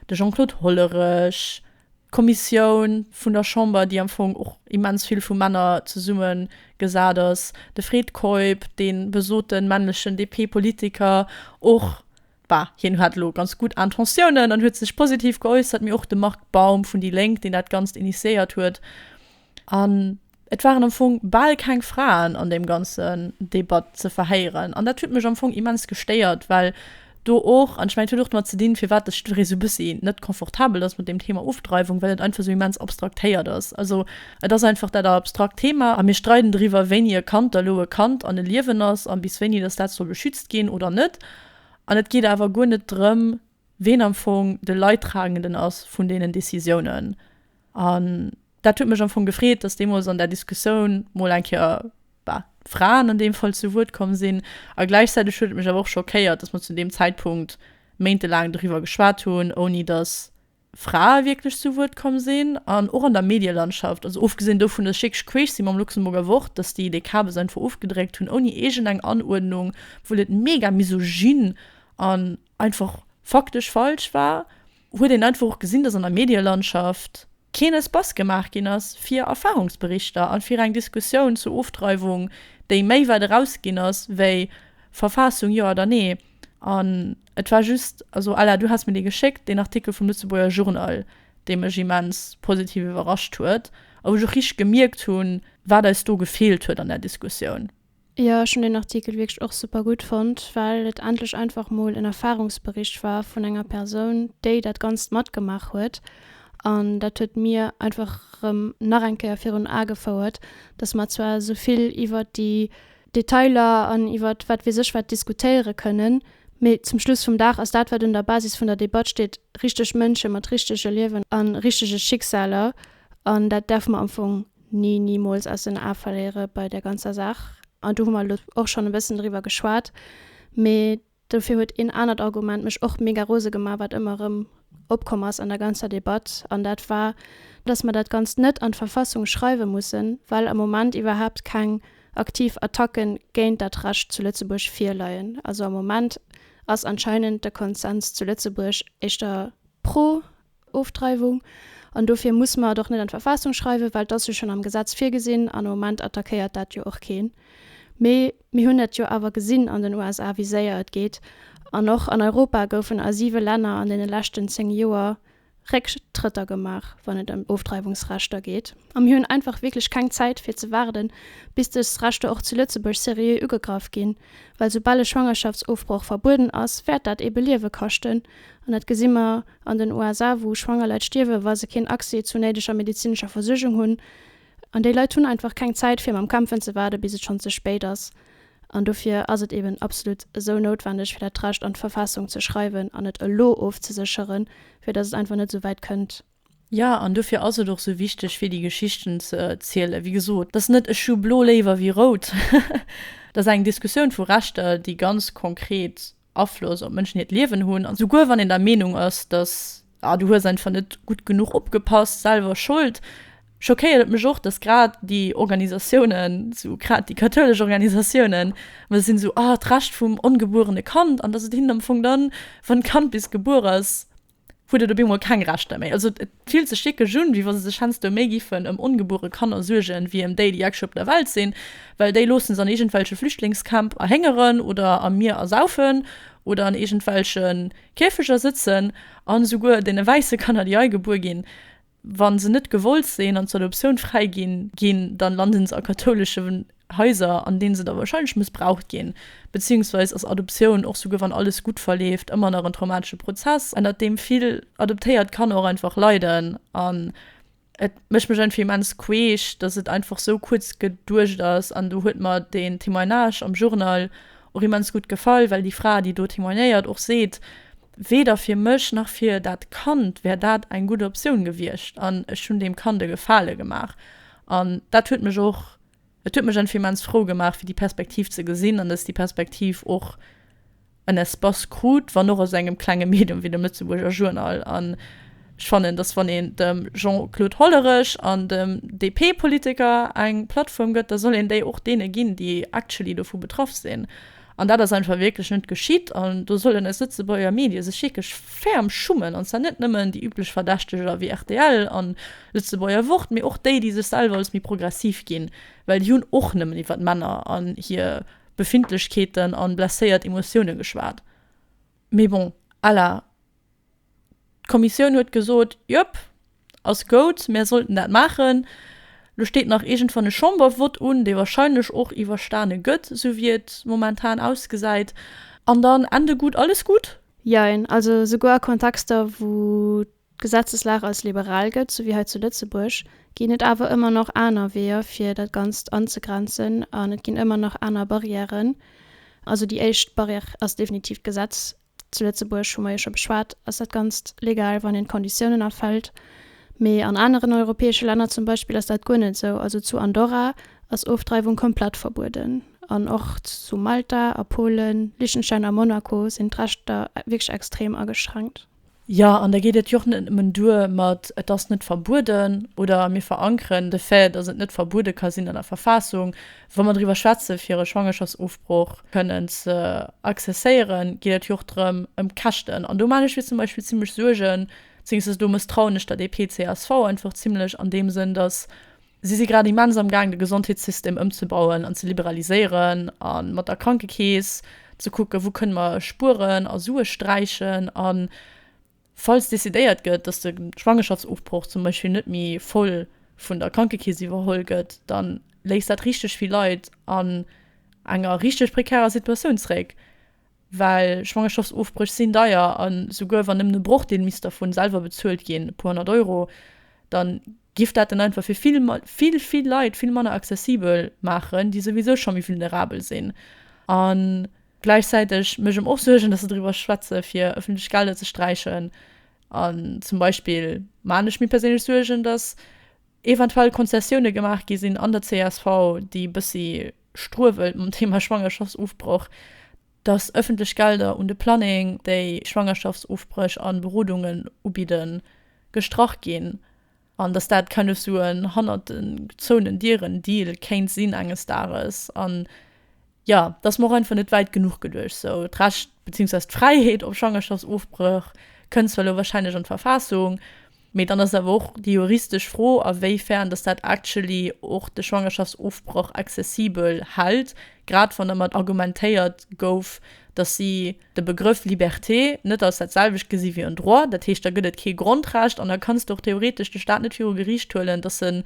de Jean-Claude Hollerech, d'Kommissioun vun der Chamber, déi am Fong och immens vill vu Männer zesummegesat ass, de Fred Keup, dee besoten männlechen DP-Politiker, och Bah, hien hat elo ganz gutt Intentiounen an huet sech positiv geäussert, mee och de Marc Baum vun déi Lénk, deen dat Ganzt initiéiert huet. An et waren am Fong bal keng Fraen an deem ganzen Debat ze verhéieren. An dat huet mech am Fong immens gestéiert, well do och, an ech mengen, et huet och domat ze dinn, firwat ech do esou e bëssi net confortabel ass mat deem Thema Ofdreiwung, well et einfach esou immens abstraktéiert ass. Also et ass einfach dat abstrakt Thema a mir streiden driwwer, wéini e Kand da elo e Kand an e Liewen ass a bis wéini dass dat soll beschützt ginn oder net. An et geet awer guer net drëm, ween am Fong de Leidtragenden ass vun deenen Décisiounen. An dat huet mech am Fong gefreet, dass deemools an där Diskussioun mol eng Kéier, bah, Fraen an deem Fall zu Wuert komm sinn. A gläichzäiteg huet et mech awer och schockéiert, dass mer zu deem Zäitpunkt méintelaang doriwwer geschwat hunn, ouni dass, Frae wierklech zu Wuert komm sinn an och an der Medielandschaft. Also ofgesinn dovun, dass ech wierklech queesch si mam Luxemburger Wort, dass déi de Kabes einfach ofgedréckt hunn ouni iergend eng Anuerdnung, obwuel et mega misogyn an einfach faktesch falsch war, huet een einfach och gesinn, dass an der Medielandschaft keen Espace gemaach ginn ass fir Erfahrungsberichter an fir eng Diskussioun zur Ofdreiwung, déi méi wäit erausginn ass wéi Verfassung jo oder nee. An. Et war just, also Ella, du has mir dee geschéckt, deen Artikel vum Lëtzebuerger Journal, dee mech immens positiv iwwerrascht huet a wou ech och richteg gemierkt hunn, wat eis do gefeelt huet an där Diskussioun. Jo, ech hunn deen Artikel wierklech och super gutt fonnt, well et endlech einfach mol en Erfarungsbericht war vun enger Persoun, déi dat Ganzt matgemaach huet. An dat huet mir einfach erëm nach eng Kéier virun Ae gefouert, dass mer zwar esou vill iwwert déi Detailer an iwwert wat weess ech wat diskutéiere kënnen, mee zum Schluss vum Dag ass dat, wat un der Basis vun der Debatt steet, richteg Mënsche mat richtege Liewen a richtege Schicksaler. An dat däerfe mer am Fong ni, nimools aus den Ae verléiere bei där ganzer Saach. An do hu mer elo och schonn e bëssen driwwer geschwat, mee. Dofir huet een anert Argument mech och mega rose gemaach, wat ëmmer erëm opkomm ass an der ganzer Debatt, an dat war, dass mer dat Ganzt net an d'Verfassung schreiwe mussen, well am Moment iwwerhaapt keng aktiv Attacke géint dat Recht zu Lëtzebuerg virleien. Also am Moment ass anscheinend de Konsens zu Lëtzebuerg éischter pro Ofdreiwung. An dofir musse mer et och net an d'Verfassung schreiwen, well et ass jo schonn am Gesetz virgesinn an am Moment attackéiert dat jo och keen. Mee mir hunn et jo awer gesinn an den USA, wéi séier et geet. An och an Europa goufen a siwe Länner an deene leschten zéng Joer Récktrëtter gemaach, wann et ëm Ofdreiwungsrechter geet. A mir hunn einfach wierklech keng Zäit fir ze waarden, bis dës Rechter och zu Lëtzebuerg seriö ugegraff ginn. Well soubal e Schwangerschaftsofbroch verbueden ass, wäert dat eebe Liewe kaschten. An dat gesi mer an den USA, wou schwanger Leit stierwen, wa se keen Accès zu néideger medezinescher Versuergung hunn. An déi Leit hunn einfach keng Zäit, fir mam Kämpfen ze waarden, bis et schonn ze spéit ass. An dofir ass et eeben absolut esou noutwendeg, fir dat Recht an d'Verfassung ze schreiwen an et elo ofzesécheren, fir datt et einfach net esou wäit kënnt. Jo, an dofir ass et och sou wichteg fir déi Geschichten ze zielen. Wéi gesot, dass net ech hu blo léiwer wéi rout, dass ass eng Diskussioun vu Rechter, déi ganz konkret Afloss op Mënschen hiert Liewen hunn. An souguer wann een der Meenung ass, dass ah du hues einfach net gutt genuch opgepasst, selwer Schold, schockéiert et mech och, dass grad déi Organisatiounen, sou grad déi kathoulesch Organisatiounen, well se sinn esou ah d'Recht vum ongebuerene Kand, an dass et hinnen am Fong dann, wann d'Kand bis gebuer ass, huet et op eemol keng Rechter méi. Also et fillt sech wierklech un, wéi wa se sech heiansdo méi giffen ëm ongebuere Kanner suergen, wéi ëm déi, déi actually op der Welt sinn, well déi loosse se an iergendwelche Flüchtlingscamp erhéngeren oder am Mier ersaufen oder an iergendwelche Käfeger sëtzen. An esouguer deene wäisse Kanner, déi hei gebuer ginn, Wa se net gewollt sinn an zur Adoptioun fräi gi ginn, da lande se a kathoulesche Haiser, an deene se da warscheinlech mëssbraucht ginn. Beziéungsweis ass Adoptioun, och souguer wann alles gutt verleeft, ëmmer nach en traumatesche Prozess, ënnert deem vill adoptéiert Kanner och einfach leiden. An et mécht mech einfach immens queesch, datt et einfach sou kuerz geduecht ass. An do huet mer den Témoignage am Journal och immens gutt gefall, well déi Fra, déi do témoignéiert, och seet, Weder fir mech nach fir dat Kand wär dat eng gutt Optioun gewiescht an ech hunn deem Kand e Gefale gemaach. An dat huet mech och, et huet mech einfach immens frou gemaach, fir déi Perspektiv ze gesinn an dass déi Perspektiv och en Espace krut, wann och aus engem klenge Medium wéi dem Lëtzebuerger Journal. Ech fannen, datt wann een dem Jean-Claude Hollerech an dem DP-Politiker eng Plattform gëtt, da soll een déi och deene ginn, déi actually dovu betraff sinn. An dat ass einfach wierklech net geschitt. An do sollen eis Lëtzebuerger Medie sech wierklech ferm schummen, an zwar net nëmmen déi üblech Verdächteger wéi rtl an Lëtzebuerger Wort, mee och déi, déi sech selwer als méi progressiv ginn, well déi hunn och nëmmen iwwer d'Männer an hir Befindlechkeeten an blesséiert Emotiounen geschwat. Mee bon, à la. D'Kommissioun huet gesot, Jop, ass goud, mär sollten dat maachen. Lo steet nach iergendwann e Chambervott un, dee wahrscheinlech och iwwerstane gëtt, esou wéi et momentan ausgesäit, an dann Ende gutt, alles gutt. Jein, also souguer a Kontexter, wou d'Gesetzeslag als liberal gëtt, esou wéi hei zu Lëtzebuerg, ginn et awer ëmmer nach aner Weeër, fir dat Ganzt anzegrenzen, an et ginn ëmmer nach aner Barrièren. Also déi éischt Barrière ass definitiv d'Gesetz, Zu Lëtzebuerg, hu mer jo scho beschwat, ass dat Ganzt legal, wann een d'Konditiounen erfëllt. Mee an aneren europäesche Länner zum Beispill ass dat guer net esou. Also zu Andorra ass Ofdreiwung komplett verbueden. An och zu Malta a Polen, Liechtenstein a Monaco sinn d'Rechter wierklech extrem ageschränkt. Jo, an da geet et jo och net nëmmen duer mat et ass net verbueden oder mir verankeren de Fait, dass et net verbuede ka sinn an der Verfassung. Wa mer driwwer schwätze fir e Schwangerschaftsofbroch kënnen ze accesséieren, geet et jo och drëm ëm d'Käschten. An do man ech mir zum Beispill zimmlech Suergen, zéngst dass do mësstrauen ech der DP-CSV einfach zimmlech an deem Sënn, dass, Si si grad immens am Gaang de Gesondheetssystem ëmzebauen an ze liberaliséieren a mat der Krankekeess ze kucken, wou kënne mer spueren a Sue sträichen. A falls decidéiert gëtt, datt de Schwangerschaftsofbroch zum Beispill net méi voll vun der Krankekeess iwwerholl gëtt, da léisst dat richteg vill Leit an enger richteg prekärer Situatioun zréck. Well Schwangerschaftsofbréch sinn deier, a souguer wann nëmmen e Brochdeel misst dervun selwer bezuelt ginn, e puer honnert Euro, da giff dat en einfach fir vill, vill, vill Leit vill manner accessibel maachen, déi souwisou scho méi vulnerabel sinn. A gläichzäiteg mécht et mer och Suergen, dass se driwwer schwätze fir ëffentlech Gelder ze sträichen. An zum Beispill maachen ech mir perséinlech Suergen, dass eventuell Konzessioune gemaach gi sinn an der csv, déi e bëssi, struewelt mam Thema Schwangerschaftsofbroch, dass ëffentlech Gelder un de Planning, déi Schwangerschaftsofbréch a Berodungen ubidden, gestrach ginn, an dass dat kennef sou en hannert de gezouenen Dieren Deal kéint sinn enges Dages. An jo, et ass mer och einfach net wäit genuch geduecht sou. D'Recht, beziehungsweise d'Fräiheet op Schwangerschaftsofbréch kënnt zwar elo wahrscheinlech an d'Verfassung. Mee dann ass awer och déi juristesch Fro, a wéi fern dass dat actually och de Schwangerschaftsofbrach accessibel hält, grad wann dermat argumentéiert gouf, dass si de Begrëff Liberté net als dat selwecht gesi wéi en Droit. Dat heescht, da gëtt et kee Grondrecht an da kanns de och theoretesch de Stat net viru Geriicht huelen, dass en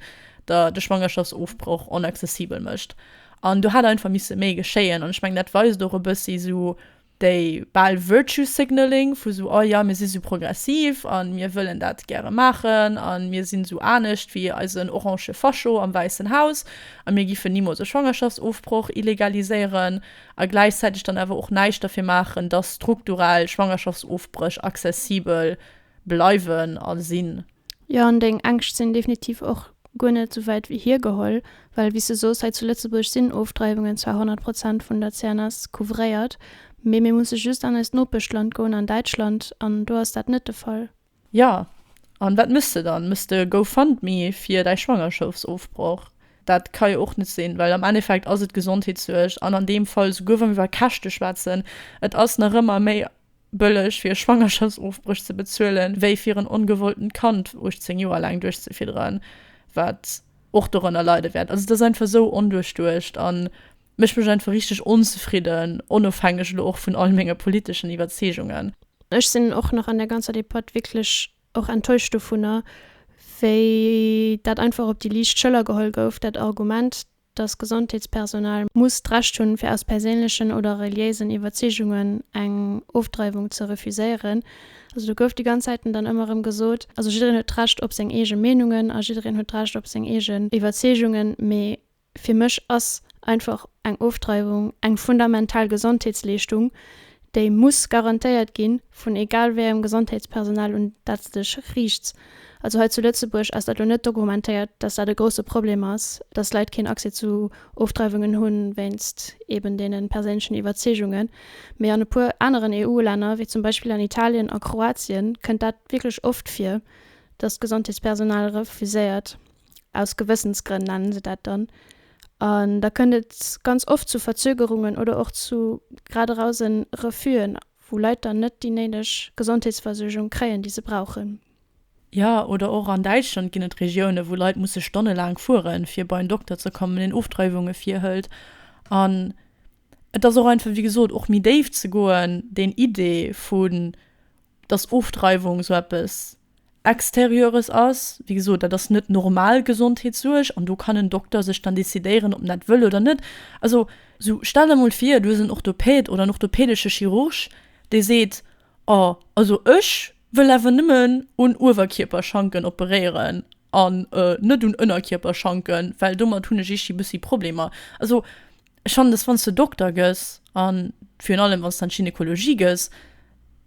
der de Schwangerschaftsofbrach onaccessibel mécht. An do hätt einfach misse méi geschéien. An ech mengen, dat weist och e bëssi esou. déi bal virtue signaling vu sou oh ja mir si sou progressiv a mir wëllen dat gäre maachen a mir sinn sou anescht wéi eisen orange Fascho am Wäissen Haus a mir giffen nimools e Schwangerschaftsofbroch illegaliséieren a gläichzäiteg dann awer och näischt derfir maachen, dass strukturell Schwangerschaftsofbréch accessibel bleiwen a sinn. Jo, an deng Ängscht sinn definitiv och guer net esou wäit hiergeholl, well wéi s de soos, hei zu Lëtzebuerg sinn Ofdreiwungen zwar 100 Prozent vun der CNS couvréiert, mee mir musse just an eist Nopeschland goen, an Däitschland, an do ass dat net de Fall. Jo, an wat méchs de dann? Méchs de GoFundMe fir däi Schwangerschaftsofbroch? Dat ka jo och net sinn, well am Endeffekt ass et d'Gesondheetssuerg, an an deem Fall, souguer wa mir iwwer Käschte schwätzen, et ass nach ëmmer méi bëlleg fir e Schwangerschaftsofbréch ze bezuelen, wéi fir en ongewolltent Kand 18 Joer laang duerchzefidderen, wat och dorënner leide wäert. Also et ass einfach esou onduerchduecht a mécht mech einfach richteg onzefridden, onofhängeg elo och vun all menge politeschen Iwwerzeegungen. Ech sinn och nach an där ganzer Debatt wierklech och enttäuscht dovunner, wéi dat einfach op déi liicht Schëller geholl gouf, dat Argument, dass Gesondheetspersonal muss d'Recht hunn, fir aus perséinlechen oder reliéisen Iwwerzeegungen eng Ofdreiwung ze refuséieren. Also do gouf déi ganz Zäiten dann ëmmer erëm gesot, also jiddereen huet d'Recht op seng eege Meenungen a jiddereen huet d'Recht op seng eegen Iwwerzeegungen, mee fir mech ass einfach eng Ofdreiwung eng fundamental Gesondheetsleeschtung, Déi muss garantéiert ginn, vun egal wéi engem Gesondheetspersonal, un dat s de dech riichts. Also hei zu Lëtzebuerg ass dat elo net dokumentéiert, dass dat e grousse Problem ass, dass Leit keen Accès zu Ofdreiwungen hu wéinst eben deene perséinlechen Iwwerzeegunge mee an e puer aneren EU-Länner, wéi zum Beispill an Italien a Kroatien, kënnt dat wierklech oft vir, dass d'Gesondheetspersonal refuséiert. aus Gewëssensgrënn nennen se dat dann, an da kënnt et ganz oft zu Verzögerungen oder och zu grad eraus en Refus'en, wou Leit dann net déi néideg Gesondheetsversuergung kréien, déi se brauchen. Jo, oder och an Däitschland ginn et Regiounen, wou Leit musse stonnelaang fueren, fir bei en Dokter ze kommen, deen Ofdreiwunge virhëlt. An et ass och einfach, wéi gesot, och méi déif ze goen, deen Idee vun, dass Ofdreiwung esou eppes, Extérieures ass. Wéi gesot, dat ass net normal Gesondheetssuerg an do kann en Dokter sech dann decidéieren, ob en dat wëll oder net. Also sou, stell der mol vir, du hues en Orthopäd oder en orthopädesche Chirurg, dee seet, Oh, also ech wëll awer nëmmen un Uewerkierperschanken operéieren. An net un Ënnerkierperschanken, well domat hunn ech ichi bëssi Problemer. Also ech fannen, dass wann s de Dokter gëss, a virun allem wann s de an d'Gynekologie gëss,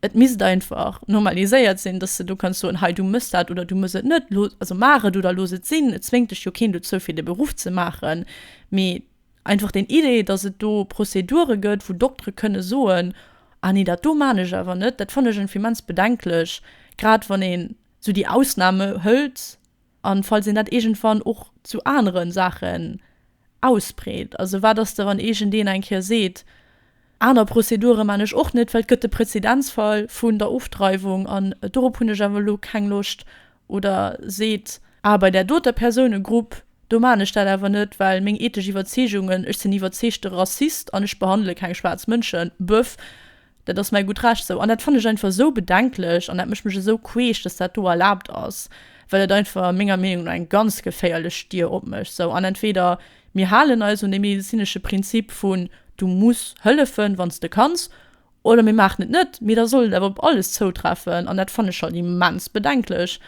et misst einfach normaliséiert sinn, dass s de do kanns soen, hei du mëss dat oder du mëss et net, looss, also maach et oder looss et sinn. Et zwéngt dech jo keen dozou fir de Beruff ze maachen, mee einfach den Idee, dass et do Prozedure gëtt, wou Doktere kënne soen, ah nee dat do maan ech awer net, dat fannen ech einfach immens bedenklech, grad wann ee sou déi Ausname hëlt an falls een dat iergendwann och zu aneren Saachen ausbreet. Also wat ass da wann iergendeen eng Kéier seet, aner Prozedure man ech och net, well et gëtt de Präzedenzfall vun der Ofdreiwung an dorop hunn ech awer elo keng Loscht, oder seet, ah bei där doter Persounegrupp, do man ech dat awer net, well meng ethesch Iwwerzeegungen, ech sinn iwwerzeegte Rassist an ech behandele keng schwaarz Mënschen, bëff. Dat ass mäi gutt Recht esou. An dat fannen ech einfach esou bedenklech an dat mécht mech esou queesch, dass dat do erlaabt ass, well et einfach menger Meenung no eng ganz geféierlech Stier opmécht esou. An entweder mir halen eis un dee medezinesche Prinzip vun du muss hëllefen, wann s de kanns, oder mir maachen et net. Mee da soll et awer op alles zoutreffen an dat fannen ech halt immens bedenklech.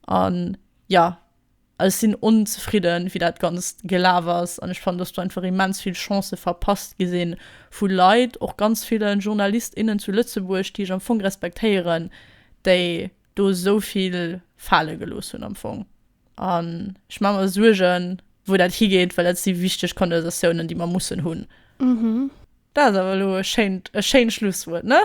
An, jo. Ech sinn onzefridden, wéi dat Ganzt gelaf ass, an ech fannen, dass do einfach immens vill Chancë verpasst gi sinn, vu Leit, och ganz ville Journalist, innen zu Lëtzebuerg, déi ech am Fong respektéieren, déi do esou vill fale gelooss hunn am Fong. An ech maache mer Suergen, wou dat higeet, well dat si wichteg Condensatiounen, déi mer mussen hunn. Dat ass awer elo e schéint Schlusswuert, ne?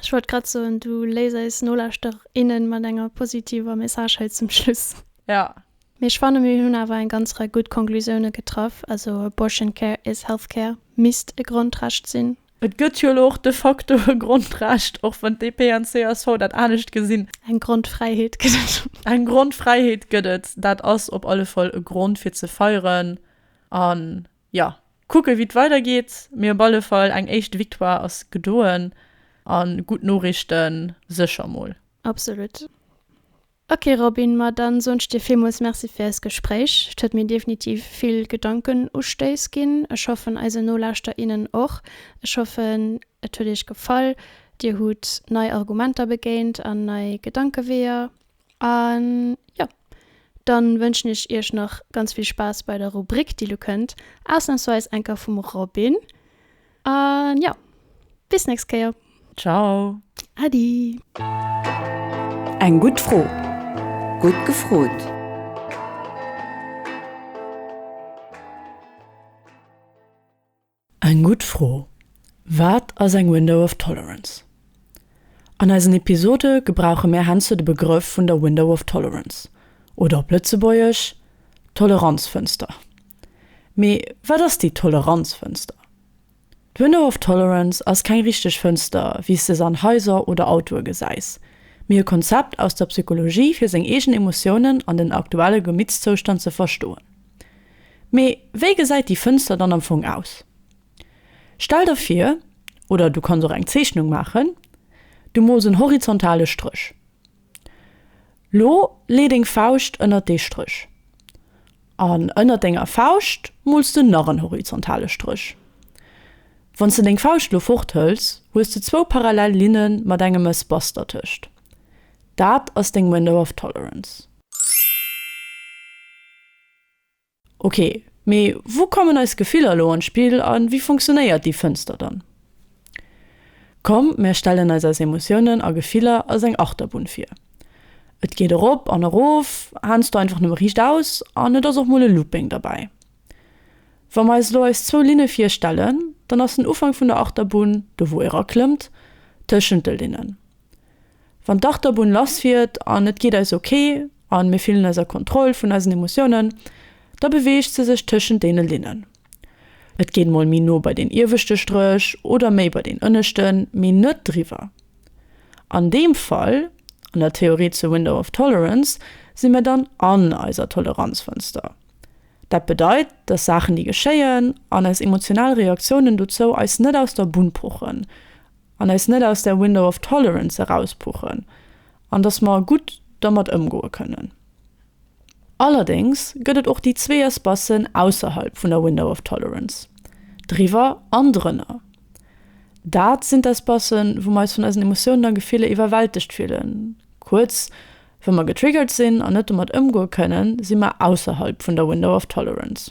Ech wollt grad soen, du léiss eis Nolauschterer, innen mat enger positiver Message hei zum Schluss. Jo. Mee ech fanne mir hunn awer eng ganz Rei gutt Konklusioune getraff. Also Abortion care is health care misst e Grondrecht sinn. Et gëtt jo elo och de facto e Grondrecht, och wann d'DP an d'CSV dat anescht gesinn. Eng Grondfräiheet gëtt et. Eng Grondfräiheet gëtt et. Dat ass op alle Fall e Grond fir ze feieren an. Jo, kucken wéi et weidergeet, mee op alle Fall eng éischt Victoire ass gedoen a gutt Noriichte sécher mol. Absolut. Ok Robin, ma dann soen ech dir villmools Merci fir eist Gespréich. Et huet mir definitiv vill Gedankenustéiss ginn. Ech hoffen eisen Nolauschter, innen och. Ech hoffen et huet iech gefall, dir hutt nei Argumenter begéint an nei Gedankeweeër. An jo, dann wënschen ech iech nach ganz vill Spaass bei der Rubrik déi lo kënnt, ausnahmsweis enker vum Robin. An jo, bis nächst Kéier. Ciao. Adi. Eng gutt Fro, gutt gefrot. Eng gutt Fro, Wat ass eng Window of Tolerance? An eisen Episode gebrauche mär heiansdo de Begrëff vun der Window of Tolerance, oder op Lëtzebuergesch, Toleranzfënster. Mee wat ass déi Toleranzfënster? D'Window of Tolerance ass keng richteg Fënster, wéi s de se an Haiser oder Autoe gesäis, mee e Konzept aus der Psychologie, fir seng eegen Emotiounen an den aktuelle Gemittszoustand ze verstoen. Mee wéi gesäit déi Fënster dann am Fong aus? Stell der vir, oder du kanns och eng Zeechnung maachen, du mools en horizontale Stréch. Lo lee deng Fauscht ënnert dee Stréch. An ënnert denger Fauscht mools de nach en horizontale Stréch. Wanns de deng Fauscht lo forthëls, hues de zwou parallel Linne mat engem Espace dertëscht. Dat ass deng Window of Tolerance. Ok, mee wou kommen eis Gefiller elo an d'Spill a wéi funktionéiert déi Fënster dann? Komm, mär stellen eis eis Emotiounen a Gefiller als eng Achterbunn vir. Et geet erop an erof, haansdo einfach nëmme riicht aus an et ass och mol e Looping derbäi. Wa mer eis elo eis zwou Linne virstellen, dann ass den Ufank vun der Achterbunn do wou ee raklëmmt, tëschent de Linnen. Wann d'Achterbunn lass fiert an et geet eis ok an mir fillen eis a Kontroll vun eisen Emotiounen, da beweegt se sech tëschent deene Linnen. Et geet mol méi no bei deen ieweschte Stréch oder méi bei deen ënneschten, mee net driwwer. An deem Fall, an der Theorie zur Window of Tolerance, si mir dann an eiser Toleranzfënster. Dat bedeit, dass Saachen déi geschéien an eis emotional Reaktiounen dozou eis net aus der Bunn pochen an eis net aus där Window of tolerance erauspuchen an dass mer gutt dermat ëmgoe kënnen. Allerdéngs gëtt et och déi zwee Espacen ausserhalb vun der Window of tolerance, driwwer an drënner. Dat sinn d'Espacen, wou mer eis vun eisen Emotiounen a Gefiller iwwerwältegt fillen, kuerz, wa mer getriggert sinn an net domat ëmgoe kënnen, si mer ausserhalb vun der Window of tolerance.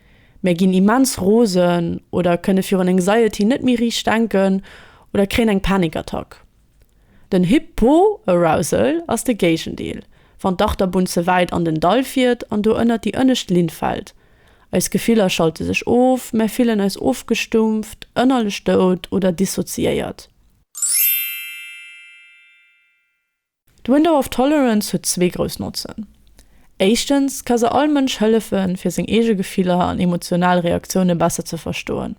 Mär ginn immens rosen oder kënne virun Anxiety net méi riicht denken oder kréien eng Panikattack. Den Hypoarousal ass de Géigendeel, wann d'Achterbunn ze wäit an den Dall fiert an do ënnert déi ënnescht Linn fält. Eis Gefiller schalte sech of, mär fillen eis ofgestumpft, ënnerlech dout oder dissoziéiert. D'Window of Tolerance huet zwee grouss Notzen. Éischtens ka se all Mënsch hëllefe fir seng eege Gefiller an emotional Reaktioune besser ze verstoen.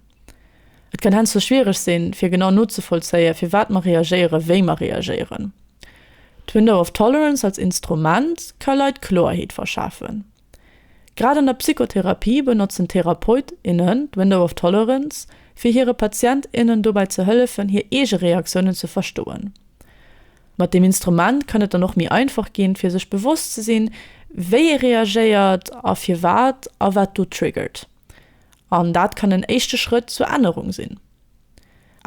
Et kann henzou schwiereg sinn, fir genau nozevollzéie firwat mer reagéiere wéi mer reagéieren. D'Window of Tolerance als Instrument ka Leit Kloerheet verschafen. Grad an der Psychotherapie benotzen Therapeut, innen d'Window of Tolerance, fir hire Patient, innen dobäi ze hëllefen, hir eege Reaktiounen ze verstoen. Mat deem Instrument kann et dann och méi einfach ginn, fir sech bewosst ze sinn, wéi ee reagéiert a firwat a wat do triggert. An dat kann en éischte Schrëtt zur Ännerung sinn.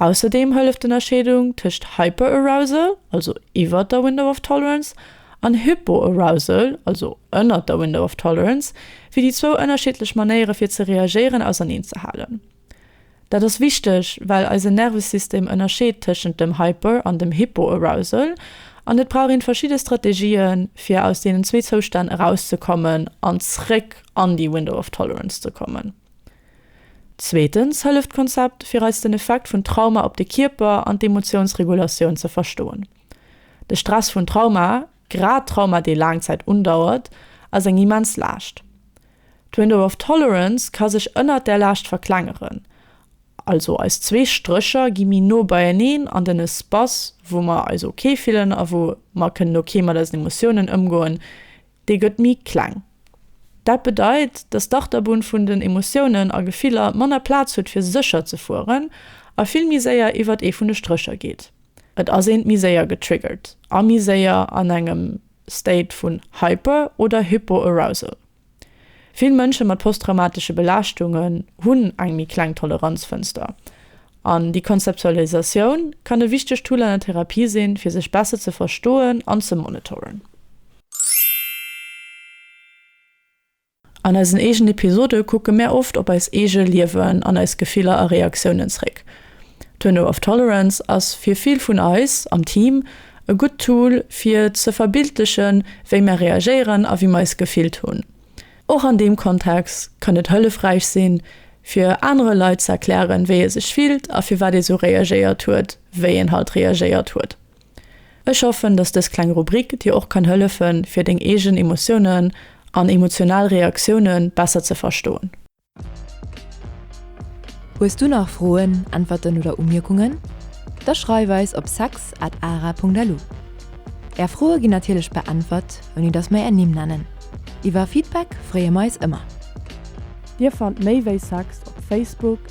Ausserdeem hëlleft d'Ënnerscheedung tëscht Hyperarousal, also iwwert der Window of Tolerance, an Hypoarousal, also ënnert der Window of Tolerance, fir déi zwou ënnerschiddlech Manéiere fir ze reagéieren auserneenzehalen. Dat ass wichteg, well eisen Nervesystem ënnerscheet tëschent dem Hyper an dem Hypoarousal, an et brauch een verschidde Strategien, fir aus deenen zwee Zoustänn erauszekommen an zréck an déi Window of Tolerance ze kommen. Zweetens hëlleft d'Konzept, fir eis den Effekt vun Trauma op de Kierper an d'Emotiounsregulatioun ze verstoen. De Stress vun Trauma, grad Trauma dee laang Zäit undauert, ass eng immens Laascht. D'Window of Tolerance ka sech ënnert där Laascht verklengeren, also eis zwee Strécher gi méi no beieneen an den Espace wou mer eis ok fillen a wou mer kënnen ok mat eisen Emotiounen ëmgoen, Dee gëtt méi kleng. Dat bedeit, dass d'Achterbunn vun den Emotiounen a Gefiller manner Plaz huet fir sécher ze fueren a vill méi séier iwwert ee vun de Strécher geet. Et ass eent méi séier getriggert a méi séier an engem State vun Hyper oder Hypoarousal. Vill Mënsche mat posttraumatesche Belaaschtungen hunn eng méi kleng Toleranzfënster an déi Konzeptualisatioun kann e wichtegt Tool an der Therapie sinn, fir sech besser ze verstoen an ze monitoren. An eisen eegen Episode kucke mär oft op eis eege Liewen an eis Gefiller a Reaktiounen zréck. Tunnel of Tolerance ass fir vill vun eis am Team e gutt Tool fir ze verbildlechen, wéi mär reagéieren a wéi mer eis gefillt hunn. Och an deem Kontext kann et hëllefräich sinn, fir anere Leit ze erklären, wéi ee sech fillt a firwat ee sou reagéiert huet, wéi een halt reagéiert huet. Ech hoffen, dass dës kleng Rubrik dir och kann hëllefen, fir deng eegen Emotiounen an emotional Reaktiounen besser ze verstoen. Hues du nach Froen, Äntwerten oder Umierkungen? Da schreif eis op sex at ara.lu. Är Froe ginn natierlech beäntwert, ouni dass mer är Nimm nennen. Iwwer Feedback freeë mer eis ëmmer. Dir fannt méi wéi sex op Facebook.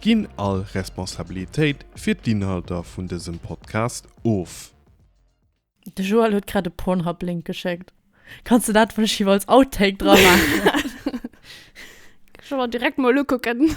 Ginn all Responsabilitéit fir d'Inhalter vun dësem Podcast of. De Joël huet grad e Pornhub Link geschéckt. Kanns de dat vläicht als Outtake dra maachen? Kann ech mer direkt mol ukucken.